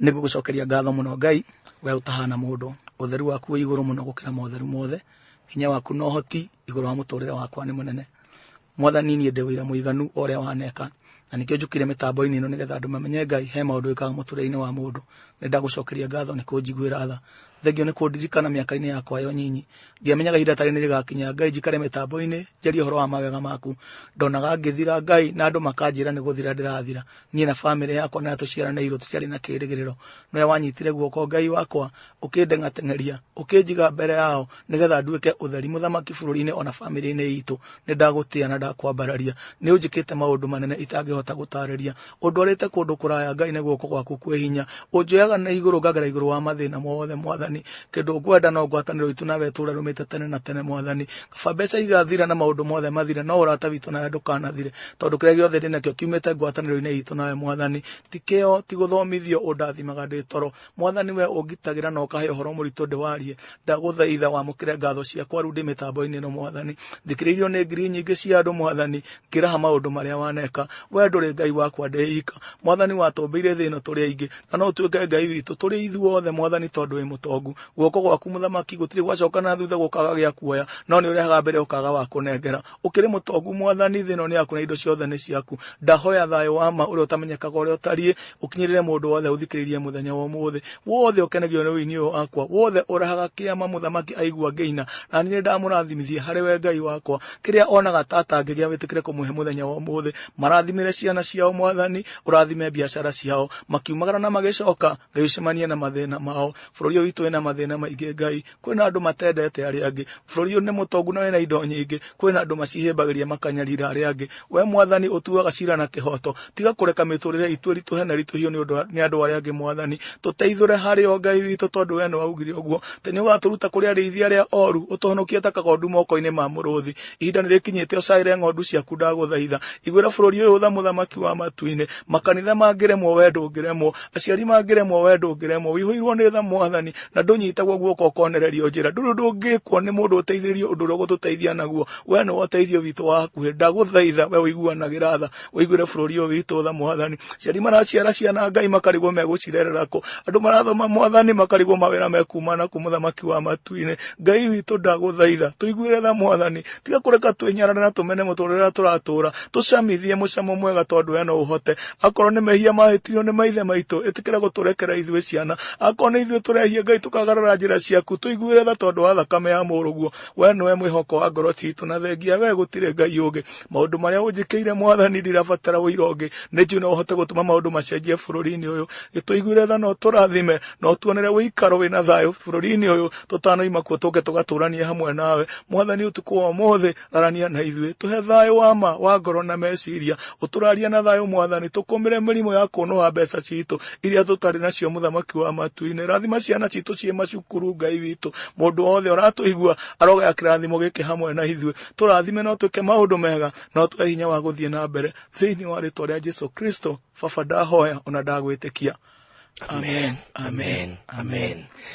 nĩ ngũgũcokeria ngatho mũno ngai we ũtahana mũndũ ũtheru waku wĩ igũrũ mũno gũkĩra motheru mothe hinya waku na ũhoti igũrũ wa mũtũrĩre wakwa nĩ mũnene mwathani niĩ ndĩ wĩra mũiganu o ũrĩa waneka na nĩkĩo njũkire mĩtambo-inĩ ĩno nĩgetha andũ mamenye ngai he maũndũ wĩkaga mũtũrĩre-inĩ wa mũndũ nĩ ndagũcokeria ngatho nĩ kũnjiguĩra tha thengio nĩ kũndirikana mĩaka-inĩ yakwa yo nyinyi ndiamenyaga ihinda tarĩ nĩ rĩgakinya ngai njikare mĩtambo-inĩ njarie ũhoro wa mawega maku ndonaga ngĩthira ngai na andũ makanjĩra nĩ gũthira ndĩrathira niĩ na bamĩrĩ yakwa na tũciaranairwo tũtiarĩ na kĩĩrĩgĩrĩro nowe wanyitire guoko ngai wakwa ũkĩndeng'ateng'eria ũkĩnjiga mbere yao nĩgetha nduĩke ũtheri mũthamaki bũrũri-inĩ ona bamĩrĩ-inĩ itũ nĩ ndagũtĩa na ndakwambararia nĩ ũnjĩkĩte maũndũ manene itangĩhota gũtarĩria ũndwarĩte kũndũ kũraya ngai nĩ guoko gwaku kwĩ hinya ũnjoyaga na igũrũ ngagera igũrũ wa mathĩna mothe mwathani kĩndũ ngwenda no ngwatanĩro itũ nawe tũũre rũmĩte tene na tene mwathani Baba, mbeca igathira na maũndũ mothe mathire, no ũrata witũ nawe ndũkanathire, tondũ kĩrĩa gĩothe ndĩ nakĩo kiumĩte ngwatanĩro-inĩ itũ nawe Mwathani. Ti kĩo, ti gũthomithio ũndathimaga ndĩ toro. Mwathani, we ũngitagĩra na ũkahe ũhoro mũritũ ndĩwarie. Ndagũthaitha wamũkĩre ngatho ciakwa rĩu ndĩ mĩtambo-inĩ ĩno Mwathani. Thikĩrĩirio nĩ ngiri nyingĩ cia andũ Mwathani, ngĩraha maũndũ marĩa waneka. We ndũrĩ Ngai wakwa ndĩ ika. Mwathani, watũmbĩire thĩ ĩno tũrĩ aingĩ, na no ũtuĩke Ngai witũ tũrĩ ithuothe Mwathani, tondũ wĩ mũtongu. guoko gwaku mũthamaki gũtirĩ gwacoka na thutha gũkaga gĩa kuoya no nĩ ũrehaga mbere ũkaga wa kũnengera ũkĩrĩ mũtongu mwathani thĩ ĩno nĩ yaku na indo ciothe nĩ ciaku ndahoya thayũ wa ma ũrĩa ũtamenyekaga ũrĩa ũtariĩ ũkinyĩrĩre mũndũ wothe ũthikĩrĩirie mũthenya wa ũmũthĩ wothe ũkenagio nĩ ũini ũyũ wakwa wothe ũrehaga kĩama mũthamaki aigua ngĩina na niĩ ndamũrathimithie harĩ we ngai wakwa kĩrĩa onaga ta atangĩgĩa wĩtĩkĩre kũmũhe mũthenya wa ũmũthĩ marathimĩre ciana ciao mwathani ũrathime biacara ciao makiumagara na magĩcoka ngai ũcemanie na mathĩna mao bũrũri ũyũ witũ wĩna mathĩna maingĩ ngai kwĩna andũ matendete arĩa angĩ bũrũri ũyũ nĩ mũtongu na wĩna indo nyingĩ kwĩna andũ macihĩmbagĩria makanyarira arĩa angĩ we mwathani ũtuaga cira na kĩhoto tiga kũreka mĩtũrĩre itũ ĩritũhe na ritũhio nĩ ũndũ wa- nĩ andũ arĩa angĩ mwathani tũteithũre harĩ o ngai witũ tondũ we nĩ waugire ũguo te nĩ ũgatũruta kũrĩ arĩithi arĩa oru ũtũhonokie ta kagondu moko-inĩ ma mũrũthi ihinda nĩ rĩkinyĩte ũcaĩre ng'ondu ciaku ndagũthaitha iguĩra bũrũri ũyũ tha mũthamaki wa matu-inĩ makanitha mangĩremwo we ndũngĩremwo aciari mangĩremwo we ndũngĩremwo wĩihũirwo nĩ tha mwathani na ndũnyitagwo guoko ũkonererio njĩra ndũrĩ ũndũ ũngĩkwo nĩ mũndũ ũteithĩrĩrio ũndũ ũrĩa ũgũtũteithia naguo we nĩ ũteithio witũ wa hakuhĩ ndagũthaitha we ũiguanagĩra tha ũiguĩre bũrũri ũyũ witũ tha mwathani aciari maraciara ciana ngai makarigwo megũcirerera kũ andũ marathoma mwathani makarigwo mawĩra mekuma na kũ mũthamaki wa matu-inĩ ngai witũ ndagũthaitha tũiguĩre tha mwathani tiga kũreka twĩnyarare na tũmene mũtũrĩre ũrĩa tũratũra tũcamithie mũcamo mwega tondũ we no ũhote akorwo nĩ mehia mahĩtirio nĩ maithe maitũ ĩtĩkĩra gũtũrekera ithuĩ ciana akorwo nĩ ithuĩ tũrehia ngai tũkagarara njĩra ciaku tũiguĩre tha tondũ wa thakame ya mũrũguo we nĩwe mwĩhoko wa ngoro citũ na thengia we gũtirĩ ngai ũngĩ maũndũ marĩa ũnjĩkĩire mwathani ndirabatara ũira ũngĩ nĩ njũ no ũhote gũtũma maũndũ macenjie bũrũri-inĩ ũyũ gĩtũiguĩre tha no tũrathime no tuonere wĩikaro wĩna thayũ bũrũri-inĩ ũyũ tũtanoima kuo tũke tũgatũranie hamwe nawe mwathani ũtukũ wa ũmũthĩ arania na ithuĩ tũhe thayũ wa ma wa ngoro na meciria ũtũraria na thayũ mwathani tũkũmĩre mĩrimũ ya kũnũha mbeca citũ iria tũtarĩ nacio mũthamaki wa matuinĩ rathima ciana citũ ciĩ macukuru ngai witũ mũndũ wothe ũratũigua arogaya kĩrathimo gĩkĩ hamwe na ithuĩ tũrathime no twĩke maũndũ mega no tũhe hinya wa gũthiĩ na mbere thĩinĩ wa rĩtwa rĩa jesu kristo baba ndahoya ona ndagwĩtĩkia amen amen amen, amen.